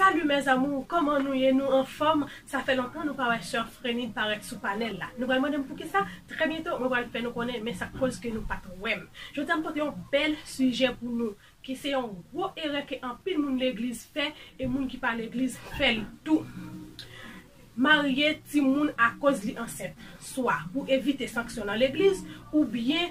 Salut mes amours kòman nou ye nou anfòm sa fè lontan nou pa wè soeur Frenide parèt sou panèl la nou pral mandem poukisa trè byento mwen pral fè nou konnen men sak koz ke nou pat wèm jodi a m pote yon bèl sijè pou nou ki se yon gwo erè ke anpil moun legliz fè e moun ki pa legliz fèl tou marye timoun akoz li ansent swa pou evite sanksyon nan legliz oubyen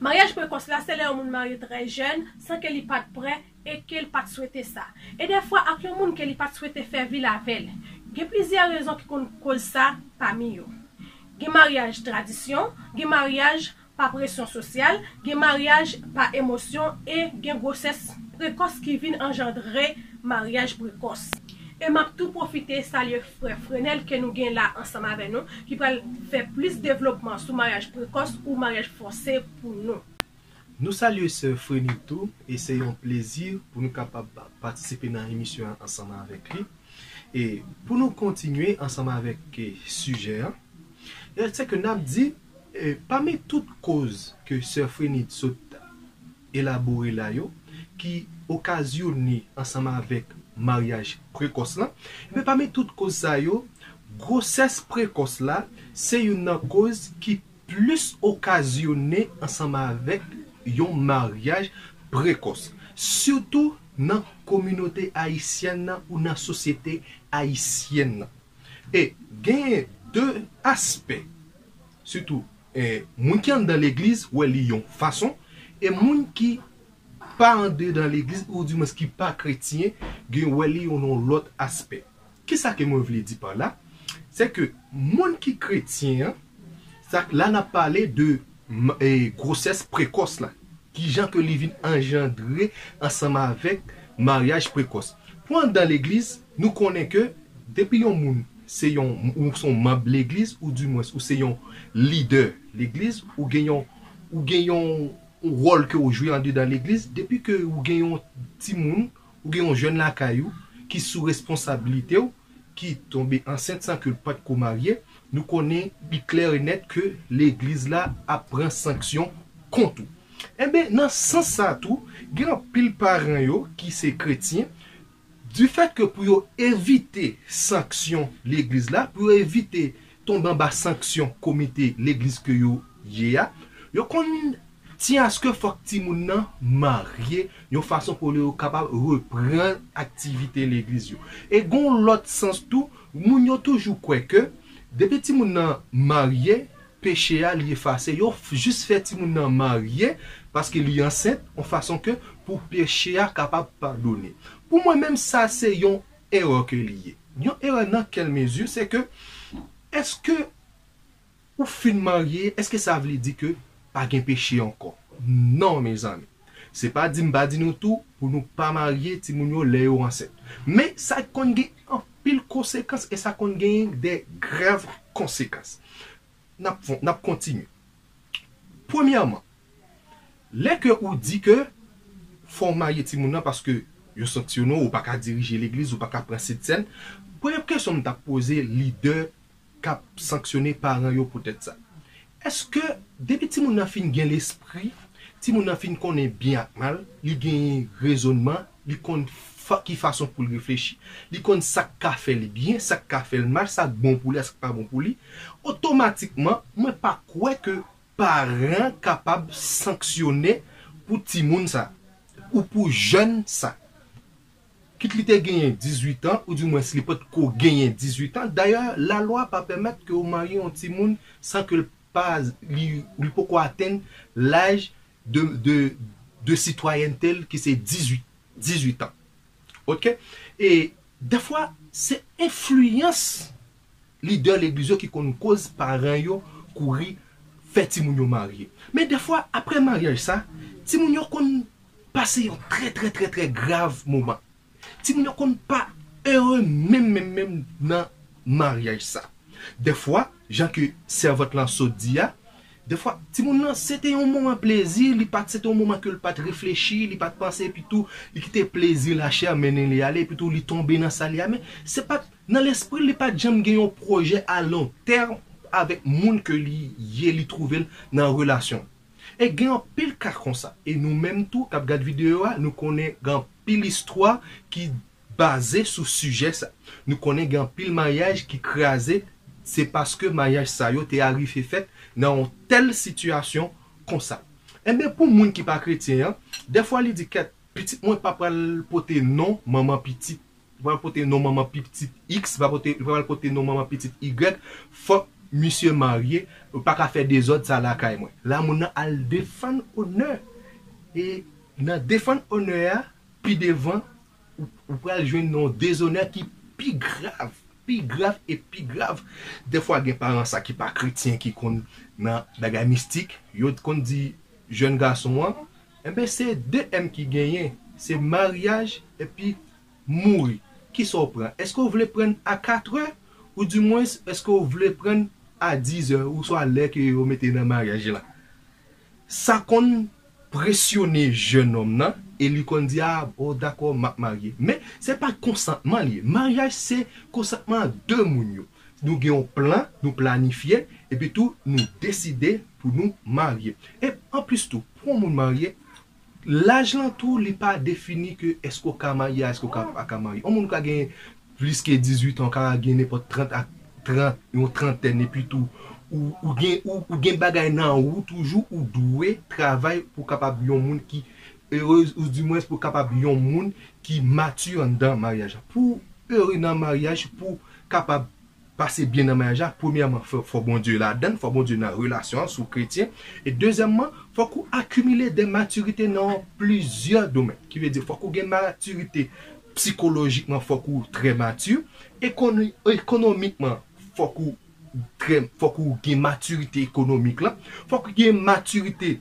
Maryaj prekòs la se lè yon moun marye trè jèn san ke li pat prè e ke l pat swete sa. E dèfwa ak yon moun ke li pat swete fè vil avè l. Gen plizyè rezon ki konn koz sa pami yo. Gen maryaj tradisyon, gen maryaj pa presyon sosyal, gen maryaj pa emosyon e gen gwosès prekòs ki vin anjandre maryaj prekòs. E map tou pwofite salye frè Frenel ke nou gen la ansanm avè nou ki pral fè plis devlopman sou maryaj prekòs ou maryaj fòse pou nou. Nou salye sè Frenil tou e se yon plezi pou nou kapab patisipe nan emisyon an ansanm avèk li. E pou nou kontinye ansanm avèk sijè an, se ke nap di pami tout koz ke sè Frenil sot elabore la yo ki okazyone ansanm avèk maryaj prekòs lan, enben pami tout koz sa yo, gwosès prekòs la se youn nan koz ki plis okazyone ansanm avèk yon maryaj prekòs, sitou nan kominote ayisyèn nan ou nan sosyete ayisyèn nan. E genyen 2 aspè sitou moun ki anndan legliz wè li yon fason e moun ki pa andedan legliz ou di mwens ki pa kretyen gen wè li yon lòt aspè. Kisa ke mwen vle di pa la? Se ke moun ki kretyen an, sa la nap pale de M e gwosès prekòs la. Kijan ke li vin anjandre ansanm avèk maryaj prekòs. Pou anndan legliz, nou konnen ke depi yon moun se yon, ou se yon manb legliz ou di mwens ou se yon lidè legliz, ou gen yon, ou gen yon wòl ke ou jwe andedan legliz, depi ke ou gen yon timoun, ou gen yon jèn lakay ou ki sou responsabilite ou, ki tonbe ansent san ke l pa t ko marye, nou konnen li klè e nèt ke legliz la ap pran sanksyon kont ou. Enben, nan sans sa a tou, gen anpil paran yo ki se kretyen, difèt ke pou yo evite sanksyon legliz la, pou yo evite tonbe anba sanksyon komite legliz ke yo ye a, yo konn ti aske fòk timoun nan marye yon fason pou yo kapab reprann aktivite legliz yo. E gon lòt sans tou, moun yo toujou kwè ke depi timoun nan marye, peche a li efase. Yo jis fè timoun nan marye paske li ansent yon fason ke pou peche a kapab padone. Pou mwen menm sa se yon erè ke li ye. Yon erè nan kèl mezi se ke eske ou fin marye eske sa vle di ke pa gen peche ankò? Non mezanmi. Se pa di m pa di nou tou pou nou pa marye timoun yo lè yo ansent. Men sa konn gen anpil konsekans e sa konn genyen de grav konsekans. N ap kontinye. Premyèman, Lè ke ou di ke fò ou marye timoun nan paske yo sanksyone w, ou pa ka dirije legliz, ou pa ka pran sentsèn, premye kesyon m tap poze lidè kap sanksyone paran yo poutèt sa. Eske depi timoun nan fin gen lespri, timoun nan fin konnen byen ak mal, li genyen rezonman, li konn ki fason pou l reflechi, li konn sak ka fè l byen, sak ka fè l mal, sak bon pou li ak sak pa bon pou li, otomatikman mwen pa kwè ke Paran kapab sanksyone pou timoun sa ou pou jèn sa. Kit li te genyen 18 an ou di mwens li pot ko genyen 18 an. Dayè la lwa pa pèmèt ke ou marye yon timoun san ke l pa li li poko atenn laj de de de sitwayènte l ki se 18 18 an. Ok e dèfwa se enfliyans. Lidè legliz yo ki konn koz paran yo kouri fè timoun yo marye. Men dèfwa aprè maryaj sa, timoun yo konn pase yon trè trè trè trè grav moman. Timoun yo konn pa ere menm menm menm nan maryaj sa. Dèfwa, jan ke sèvant lan sot di a, dèfwa timoun lan se te yon moman plezi, li pat se te yon moman ke li pat reflechi, li pat panse epitou li kite plezi lachè mennen li ale epitou li tonbe nan sa li a men se pat Nan lespri l li pat janm gen yon pwojè a long terme avèk moun ke li ye li twouve l nan relasyon. E gen anpil ka konsa e nou menm tou kap gad videyo a nou konnen gen anpil istwa ki baze sou sijè sa. Nou konnen gen anpil maryaj ki kraze se paske maryaj sa yo te arive fèt nan yon tèl sitiyasyon konsa. Enben pou moun ki pa kretyen an dèfwa li di kèt pitit mwen pa pral pote non manman pitit. Li pral pote non manman pi ptit X, li pral pote non manman pitit Y, fòk misye marye, ou pa ka fè dezòd sa lakay mwen. La moun nan al defann onè, e nan defann onè a, pi devan ou pral jwenn yon dezonè ki pi grav, pi grav e pi grav. Dèfwa gen paran sa ki pa kretyen ki konn nan bagay mistik, yo konn di jèn gason an, enben se 2 m ki genyen, se maryaj epi Mouri. Kisa w pran? Eske w vle prann a 4 è? Ou di mwens eske w vle prann a 10 è ou swa lè ke yo mete nan maryaj la? Sa konn presyone jenòm nan e li konn di a bon dakò map marye. Men se pa konsantman li ye. Maryaj se konsantman an 2 moun yo. Nou gen yon plan, nou planifye epi tou nou deside pou nou marye. E anplis tou pou yon moun marye Laj lan tou li pa defini ke èske w ka marye a èske w ka pa ka marye. On moun ka gen plis ke 18 an, w ka gen nenpòt 30 ak 30, yon trantèn epi tou ou gen ou gen bagay nan ou toujou ou dwe travay pou w kapab yon moun ki erez ou di mwens pou w kapab yon moun ki mati anndan maryaj la. Pou ere nan maryaj, pou kapab pase byen nan maryaj la premyèman fò Bondye ladann fò Bondye nan relasyon an si w kretyen e dezyèmman fòk ou akimile de matirite nan plizyè domèn ki vle di fòk ou gen matirite psikolojikman fòk ou trè mati ekoni ekonomikman fòk ou trè fòk ou gen matirite ekonomik lan fòk ou gen matirite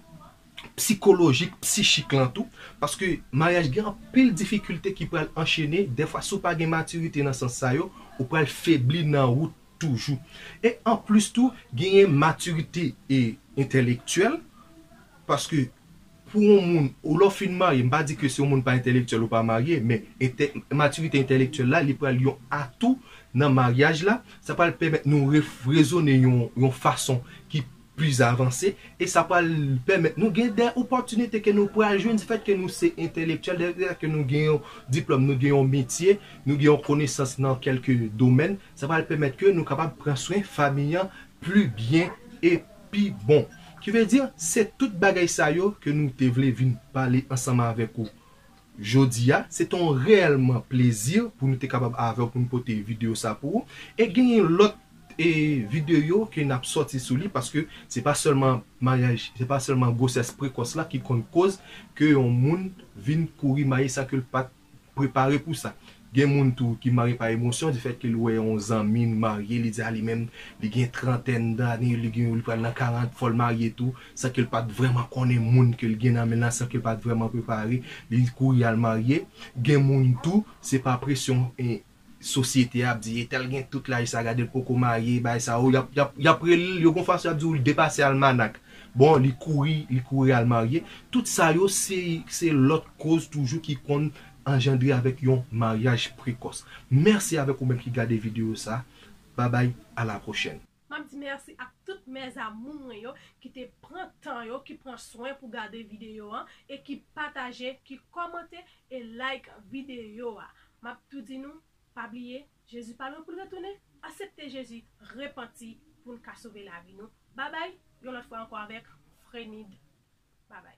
psikolojik, psichik lan tou, paske maryaj gen anpil difikilte ki pral anchene, dèfwa si w pa gen matirite nan sans sa yo, ou pral febli nan wout toujou. E anplis tou, genyen matirite e entèlektyèl, paske pou yon moun, ou lè w fin marye, m pa di ke si yon moun pa entèlektyèl ou pa marye, men entè, matirite entèlektyèl la, li pral yon atou nan maryaj la, sa pral pèmèt nou ref, rezone yon, yon fason ki plis avanse e sa pral pèmèt nou gen dè opòtinite ke nou pral jwenn di fèt ke nou se entèlektyèl dè fèt ke nou gen yon diplòm nou gen yon metye nou gen yon konesans nan kèlke domèn sa pral pèmèt ke nou kapab pran swen fami an pli byen e pi bon ki vle di se tout bagay sa yo ke nou te vle vin pale ansanm avèk ou Jodi a, se te yon reyèlman plezi pou nou te kapab avè w pou nou pote videyo sa pou ou. E genyen lòt e videyo ke nap sòti sou li paske se pa sèlman maryaj, se pa sèlman gwosès prekòs la ki konn koz ke yon moun vin kouri marye san ke l pat prepare pou sa. Gen moun tou ki mare pa emosyon di fèt ke li wè yon zanmi li marye li di a li menm li gen trantèn dane li gen li pral nan 40 fòl marye tou san ke li pat vrèman konnen moun ke li gen nan men lan san ke li pat vrèman prepare li kouri al marye gen moun tou se pa presyon sosyete ap di e tèl gen tout laj sa gade li poko marye bay sa ou yap yap yap rele l yo gon fason yap di w li depase almanak bon li kouri li kouri al marye tout sa yo se se lòt koz toujou ki konn anjandre avèk yon maryaj prekòs mèsi avèk ou menm ki gade videyo sa babay ala pwochèn. Map di mèsi ak tout mes amour mwen yo ki te pran tan yo ki pran swen pou gade videyo an e ki pataje ki kòmante e like videyo a map tou di nou pa bliye Jezi pa lwen poul retounen asepte Jezi repanti poun ka sove lavi nou babay yon lòt fwa ankò avèk Frenid babay.